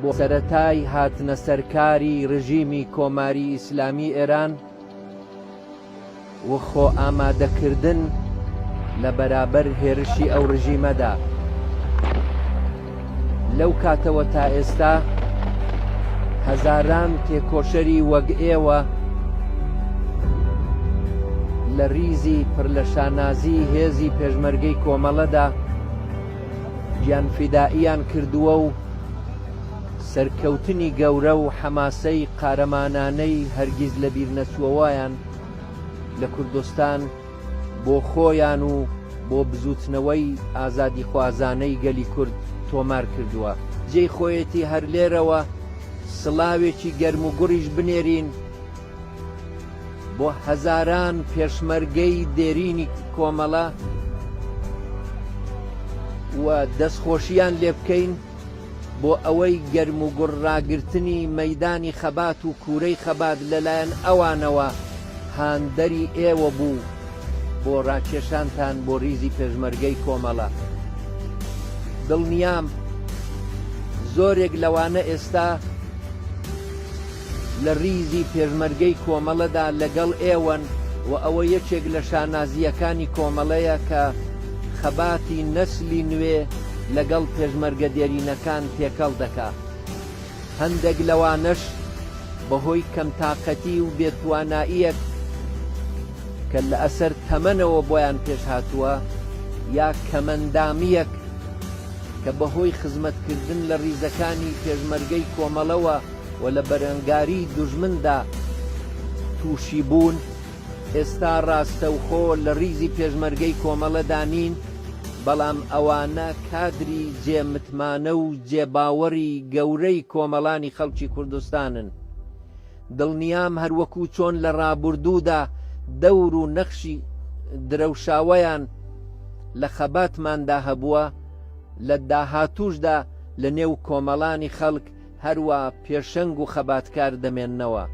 بۆ سەرەتای هاتنە سەرکاری ڕژیمی کۆماری ئیسلامی ئێران و خۆ ئامادەکردن لە بەرابەر هێرشی ئەو ڕژیمەدا لەو کاتەوە تا ئێستا هەزاران تێکۆشەری وەک ئێوە لە ریزی پڕ لە شانازی هێزی پێشمەرگەی کۆمەڵەدا گیانفیدائیان کردووە و سەرکەوتنی گەورە و حەماسەی قارەمانانەی هەرگیز لەبیرنەچووەوەیان لە کوردستان بۆ خۆیان و بۆ بزووتنەوەی ئازادیخوازانەی گەلی کورد تۆمار کردووە. جێی خۆیەتی هەر لێرەوە سڵاوێکی گەرموگوڕیش بنێرین بۆ هەزاران پێشمەرگەی دێرینی کۆمەڵە و دەستخۆشیان لێ بکەین بۆ ئەوەی گەرم و گوڕ ڕاگررتنی مەدانی خەبات و کوورەی خەبات لەلایەن ئەوانەوە هاندەری ئێوە بوو بۆ ڕاکێشانتان بۆ ریزی پێشمەرگەی کۆمەڵە دڵنیام زۆرێک لەوانە ئێستا لە ریزی پێشمەرگەی کۆمەڵەدا لەگەڵ ئێوەن و ئەوە یەکێک لە شانازییەکانی کۆمەڵەیە کە خەباتی نەسلی نوێ لەگەڵ پێشمەرگە دێرینەکان تێکەڵ دەکا. هەندێک لەوانەش بە هۆی کەمتاقەتی و بێ تواناییەک کە لە ئەسەر تەمەنەوە بۆیان پێش هاتووە یا کەمەندامییەک کە بە هۆی خزمەت کردن لە ریزەکانی پێشمەرگەی کۆمەڵەوە و لە بەرەنگاری دوژمندا تووشی بوون، ئێستا ڕاستەوخۆ لە ڕیزی پێشمەرگەی کۆمەڵەدا نین، بەڵام ئەوانە کادری جێ متمانە و جێ باوەڕی گەورەی کۆمەڵانی خەڵکی کوردستانن. دڵنیام هەر وەکوو چۆن لە ڕابوردوودا دەور و نەخشی درەوشاوەیان لە خەباتماندا هەبووە، لە داهاتووشدا لە نێو کۆمەڵانی خەڵک، هەروا پێشەنگ و خەباتکار دەمێننەوە.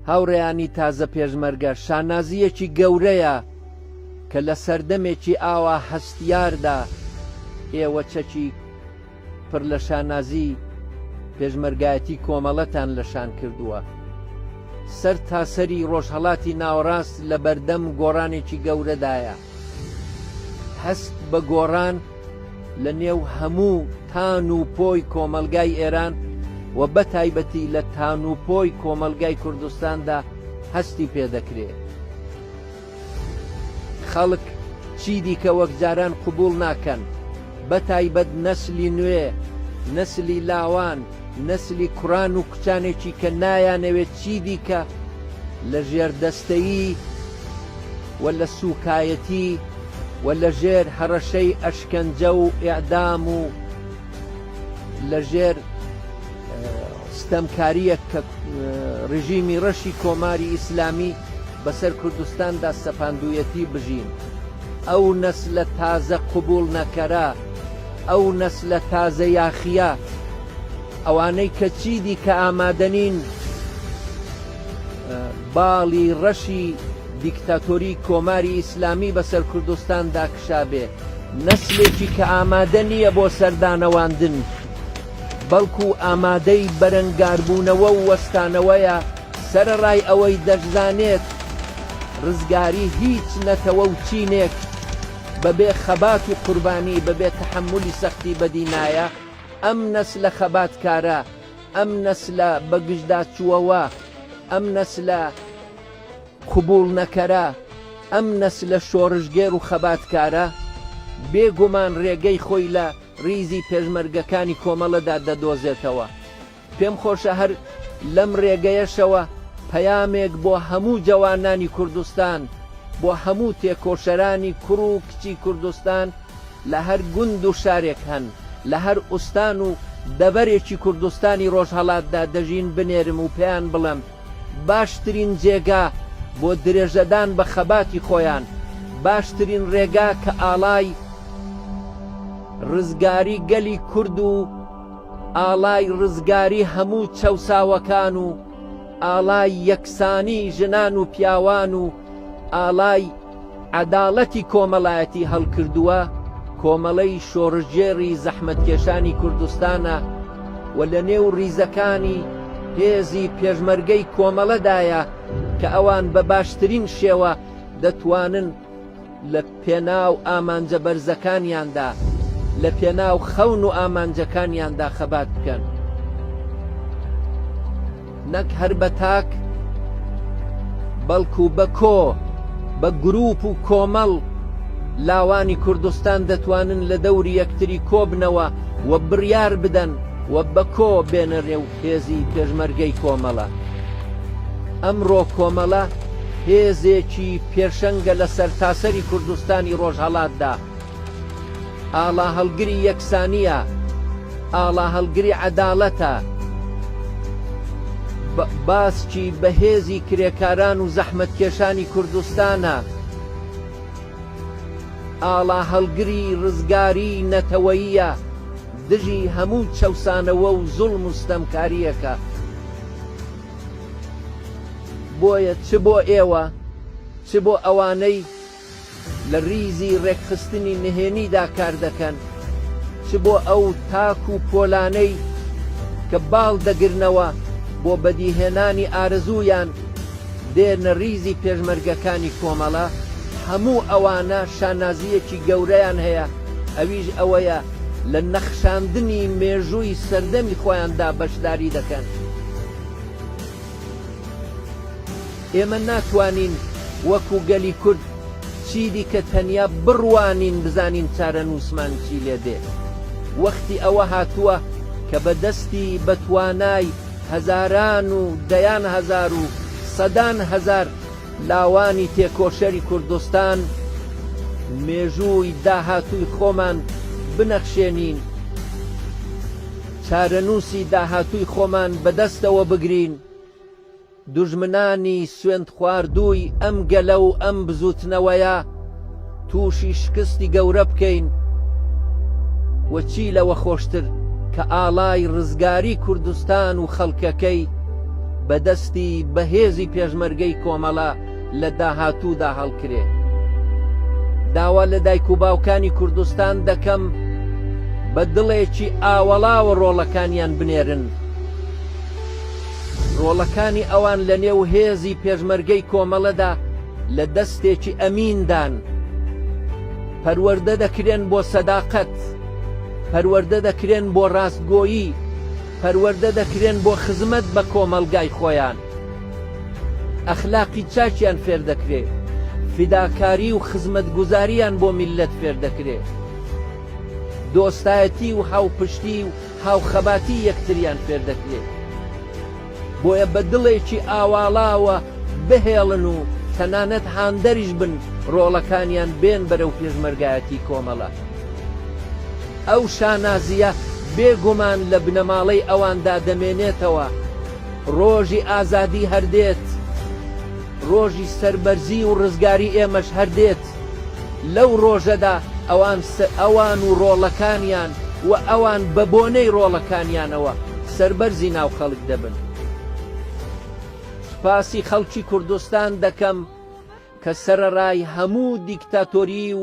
هاوڕێیانی تازە پێشمەرگە شانازییەکی گەورەیە کە لە سەردەمێکی ئاوا هەستیاردا ئێوە چەکی پڕ لە شانازی پێشمەرگایەتی کۆمەڵەتان لەشان کردووە. سەر تاسەری ڕۆژهڵاتی ناوەڕاست لە بەردەم گۆڕانێکی گەورەدایە. هەست بە گۆڕان لە نێو هەموو تان و پۆی کۆمەڵگای ئێران و بە تایبەتی لە تان و پۆی کۆمەڵگای کوردستاندا هەستی پێ دەکرێ. خەڵک چیدیکە وەک جاران قبووڵ ناکەن، بە تایبەت نەسلی نوێ، نەسلی لاوان، نەسلی کوڕان و کچانێکی کە نایانەوێ چیدیکە لە ژێردەستەیی، و لە سووکایەتی و لە ژێر هەڕەشەی ئەشکەنجە و ئێعدام و لە ژێر ستەمکارییە کە ڕژیمی ڕەشی کۆماری ئیسلامی بەسەر کوردستاندا سەپاندویەتی بژین ئەو نەس لە تازە قوبول نەکەرە ئەو نەس لە تازە یاخیە ئەوانەی کە چیدی کە ئامادەنین باڵی ڕەشی دیکتاتۆری کۆماری ئیسلامی بەسەر کوردستاندا کشابێ، نەسلێکی کە ئامادە نییە بۆ سەردانەواندن، بەڵکو ئامادەی بەرەنگاربوونەوە و وەستانەوەیە، سەرەڕای ئەوەی دەشزانێت ڕزگاری هیچ نەتەوە و چینێک بەبێ خەبات و قوربانی، بەبێ تەحەمولی سەختی بەدی نایە، ئەم نەسلە خەباتکارە ئەم نەسلە بەگژداچووەوە، ئەم نەسلە قبووڵنەکەرە، ئەم نەسلە شۆڕشگێر و خەباتکارە، بێ گومان ڕێگەی خۆی لە ڕیزی پێشمەرگەکانی کۆمەڵەدا دەدۆزێتەوە. پێم خۆشە هەر لەم ڕێگەیەشەوە پەیامێک بۆ هەموو جەوانانی کوردستان، بۆ هەموو تێکۆشەرانی کوڕ و کچی کوردستان، لە هەر گوند و شارێک هەن، لە هەر ئوستان و دەڤەرێکی کوردستانی ڕۆژهەڵاتدا دەژین بنێرم و پێیان بڵێم باشترین جێگا بۆ درێژەدان بە خەباتی خۆیان، باشترین ڕێگا کە ئاڵای ڕزگاری گەلی کورد و ئاڵای ڕزگاری هەموو چەوساوەکان و ئاڵای یەکسانی ژنان و پیاوان و ئاڵای عەداڵەتی کۆمەڵایەتی هەڵکردووە، کۆمەڵەی شۆڕشگێڕی زەحمەتکێشانی کوردستانە و لە نێو ڕیزەکانی هێزی پێشمەرگەی کۆمەڵەدایە کە ئەوان بە باشترین شێوە دەتوانن لە پێناو ئامانجە بەرزەکانیاندا لە پێناو خەون و ئامانجەکانیاندا خەبات بکەن. نەک هەر بە تاک بەڵکو بە کۆ بە گروپ و کۆمەڵ لاوانی کوردستان دەتوانن لە دەوری یەکتری کۆبنەوە و بڕیار بدەن و بە کۆ بێنە نێو هێزی پێشمەرگەی کۆمەڵە. ئەمڕۆ کۆمەڵە هێزێکی پێشەنگە لە سەرتاسەری کوردستانی ڕۆژهەڵاتدا. ئاڵا هەڵگری یەکسانییە، ئاڵا هەڵگری عەداڵەتە. بە باسکی بەهێزی کرێکاران و زەحمەتکێشانی کوردستانە. ئاڵا هەڵگری ڕزگاریی نەتەوەییە دژی هەموو چەوسانەوە و زوڵم و ستەمکارییەکە. بۆیە چ بۆ ئێوە، چ بۆ ئەوانەی لە ریزی رێکخستنی نهێنیدا کاردەکەن، چ بۆ ئەو تاک و پۆلانەی کە باڵ دەگرنەوە بۆ بەدیهێنانی ئارەزوویان دێنە ریزی پێشمەرگەکانی کۆمەڵە، هەموو ئەوانە شانازییەکی گەورەیان هەیە ئەویش ئەوەیە لە نەخشاندنی مێژووی سەردەمی خۆیاندا بەشداری دەکەن. ئێمە ناتوانین وەکو گەلی کورد چیدیکە تەنیا بڕوانین بزانین چارەنووسمان چی لێ دێ. وەختی ئەوە هاتووە کە بە دەستی بە توانای هەزاران و دەیان هەزار و سەدان هەزار لاوانی تێکۆشەری کوردستان مێژووی داهاتووی خۆمان بنەخشێنین. چارەنووسی داهاتووی خۆمان بەدەستەوە بگرین، دوژمنانی سوێندخواردووی ئەم گەلە و ئەم بزووتنەوەیە تووشی شکستی گەورە بکەین و چی لەوە خۆشتر کە ئاڵای ڕزگاری کوردستان و خەڵکەکەی بەدەستی بەهێزی پێشمەرگەی کۆمەڵە لە داهاتوودا هەڵکرێ. داوا لە دایک و باوکانی کوردستان دەکەم بە دڵێکی ئاوەڵاوە ڕۆڵەکانیان بنێرن. ڕۆڵەکانی ئەوان لە نێو هێزی پێشمەرگەی کۆمەڵەدا لە دەستێکی ئەمیندان. پەروەردە دەکرێن بۆ سەداقەت، پەروەردە دەکرێن بۆ ڕاستگۆیی، پەروەردە دەکرێن بۆ خزمەت بە کۆمەڵگای خۆیان. ئەخلاقی چاکیان فێردەکرێ، فیداکاری و خزمەتگوزارییان بۆ میللەت فێردەکرێ، دۆستایەتی و هاوپشتی و هاوخەباتی یەکتریان فێردەکرێ، بۆیە بە دڵێکی ئاواڵاوە بهێڵن و تەنانەت هاندەریش بن ڕۆڵەکانیان بێن بەرەو پێشمەرگایەتی کۆمەڵە. ئەو شانازییە بێ گومان لە بنەماڵەی ئەواندا دەمێنێتەوە، ڕۆژی ئازادی هەر دێت، ڕۆژی سەربەرزی و ڕزگاری ئێمەش هەر دێت. لەو ڕۆژەدا ئەوان ئەوان و ڕۆڵەکانیان و ئەوان بە بۆنەی ڕۆڵەکانیانەوە سەربەرزی ناو خەڵک دەبن. سوپاسی خەڵکی کوردستان دەکەم کە سەرەڕای هەموو دیکتاتۆریی و